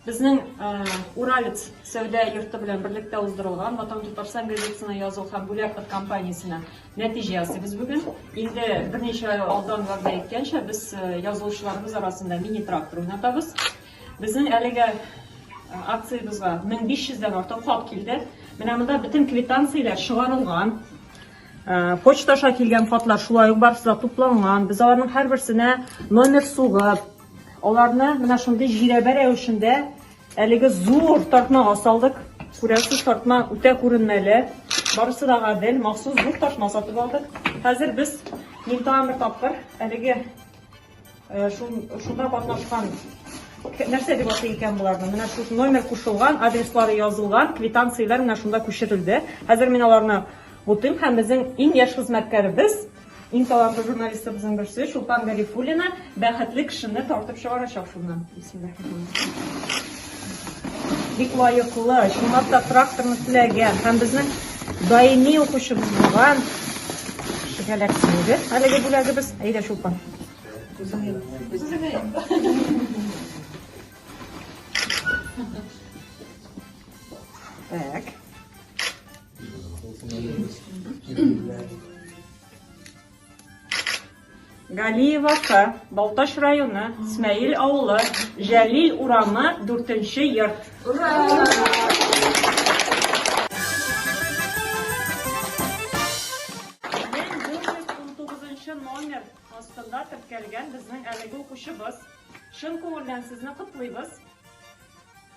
Безнең Уралец сәүдә йорты белән берлектә уздырылган Матам Татарстан газетасына язу һәм бүләк от компаниясенә нәтиҗә ясыйбыз бүген. Инде берничә ай алдан вәгъдә иткәнчә, без язылучыларыбыз арасында мини-трактор уйнатабыз. Безнең әлеге акциябезгә 1500 дән артык хат килде. Менә монда бөтен квитанцияләр чыгарылган. Почта аша килгән хатлар шулай ук барысы да тупланган. Без аларның һәрберсенә номер сугып, аларны менә шундый җирәбә рәвешендә әлеге зур тартмага салдык. Күрәсез, тартма үтә күренмәле. Барысы да гадел, махсус зур тартма сатып алдык. Хәзер без минутага бер тапкыр әлеге Шунда катнашкан нәрсә дип атый икән боларны? Менә шул номер кушылган, адреслары язылган квитанцияләр менә шунда күчерелде. Хәзер мин аларны бутыйм һәм безнең иң яшь хезмәткәребез, иң талантлы журналистыбызның берсе Чулпан Гарифуллина бәхетле кешене тартып чыгарачак шуннан. Бисмиллаһи-рахмани-рахим. Бик лаеклы, чынлап та тракторны теләгән һәм безнең даими укучыбыз булган кешегә инде әлеге бүләгебез. Әйдә, Чулпан. Так. Галиевака, Балтач районы, Смәел авылы, Җәлил урамы, 4 нче йорт. номер астында теркәлгән безнең әлеге укучыбыз. Чын күңелдән сезне котлыйбыз.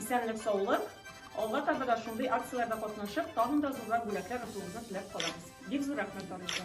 Исәнлек саулык! Алга таба да шундый акцияләрдә катнашып, тагын да зуррак бүләкләр отуыгызны теләп калабыз. Бик зур рәхмәт барыгызга!